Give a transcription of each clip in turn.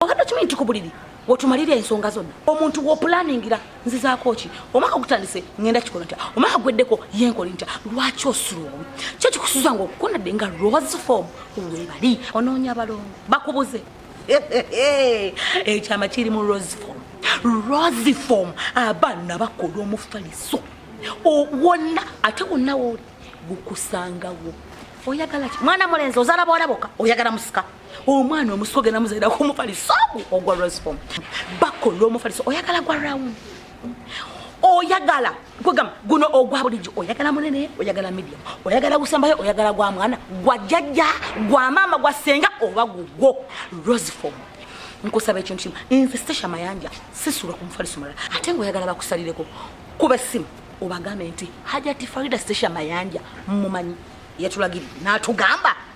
obadde okimanyi nti ku buliri wetumalira ensonga zonna omuntu wopulaningira nzizaako ki omwaka ogutandise ngenda kikola ntya omwaka gweddeko yenkoli ntya lwaki osulowo kyo kikusuza nga okukonadde nga rose form webali onoonya balongo bakubuze ekyama eh, kiri mu rose form rose form abaana bakola omufaliso wonna ate wonna wooli gukusangawo oyagala ki mwana mulenzi ozala bwolaboka oyagala musika omwana omusi ogenda muzaira kumufaliso ogwa rosfom bako lwomufaliso oyagala gwa round oyagala kwegamba guno ogwa bulijjo oyagala munene oyagala medium oyagala gusembayo oyagala gwa mwana gwa jjajja gwa maama gwa senga oba gugwo rosfom nkusaba ekintu kimu nze stasha mayanja sisula ku mufaliso mulala ate nga oyagala bakusalireko kuba essimu obagambe nti hajati farida stasha mayanja mumanyi yatulagiri natugamba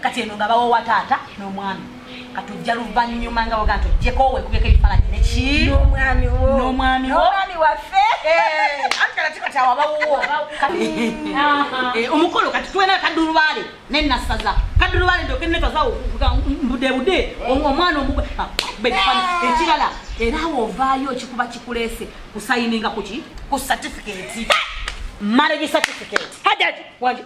kati eno nga bawowa taata n'omwami katujja luvannyuma nga waga nti ojjeko wekubeko ebifaananyi nekinomwami nomwami nomwami waffe eh, antikalatikatawabawuwo eh, omukolo kati tuwena kadulubaale nenasaza kadulubaale ndokenetazawo budebude omwana omubekifana ah, ekirala era awo ovaayo kikuba kikulese kusayininga kuki ku satifiketi marriage certificate. Hajat, wajib.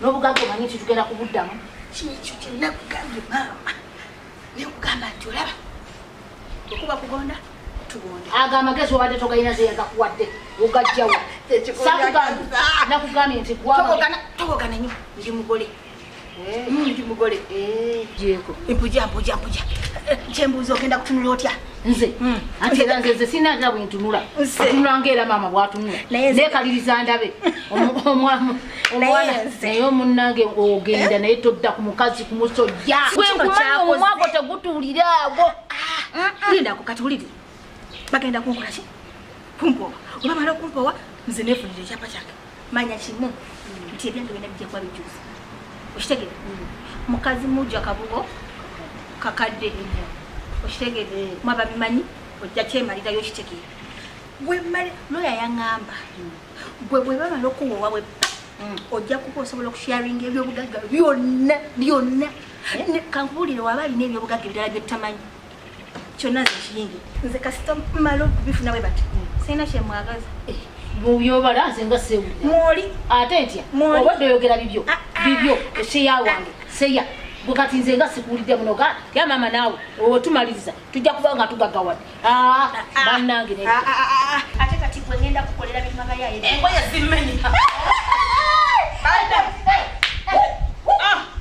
n'obugagga omanyi nti tugenda kubuddamu kyekyo kyenakugambye maama nekugamba nti olaba okuba kugonda tugonda ago amagezi obadde togalina zeyagakuwadde ogajjawo nakugambye nti togogana nyo ndi mugole eh. mm, ndi mugole eh. mpuja mpuja mpuja eh, kyembuuza ogenda kutunula otya nze hmm. anti era nze nze sirina ngira bwentunula tunula ngaera maama bwatunula nekaliriza ndabe naye omunange ogenda naye todda ku mukazi ku musojja gwenkumanya omumwago tegutulira ago ah, ah. lindako kati wulire bagenda kunkolaki kumpowa olwamala okumpowa nze nefunira ekyapa kyange manya kimu nti ebyange byona bijja kuba bijusa okitegere mm. mukazi muja kabugo kakadde okitegere mm. mwaba bimanyi ojja kyemalirayo okitegere gwemali loya yaŋamba mm. gwe bwebamala okuwa owabwe ojja kuba osobola okusharinga ebyobugagga byonna byonna eh? kankubuulire waba alina ebyobugagga ebirala byetutamanyi kyonna zekiyingi nze kasita mala okubifuna bwe bati sirina kyemwagaza eh, mubyobala nze nga sewulira mwoli ate ntya obadde oyogera bibyo ah, ah. bibyo seya wange seya gwe kati nze nga sikuwulidde muno ga ya maama naawe otumaliriza tujja kuba nga tugagawad ah, banange ate kati gwe ngenda kukolera bimagayaye engoye zimenyika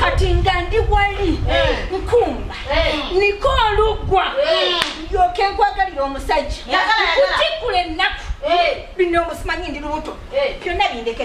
kati nga ndi wali nkumba niko oluggwa ndyoke nkwagalira omusajja kutikkula ennaku bino omusimanyi ndi lubuto byonna bindeke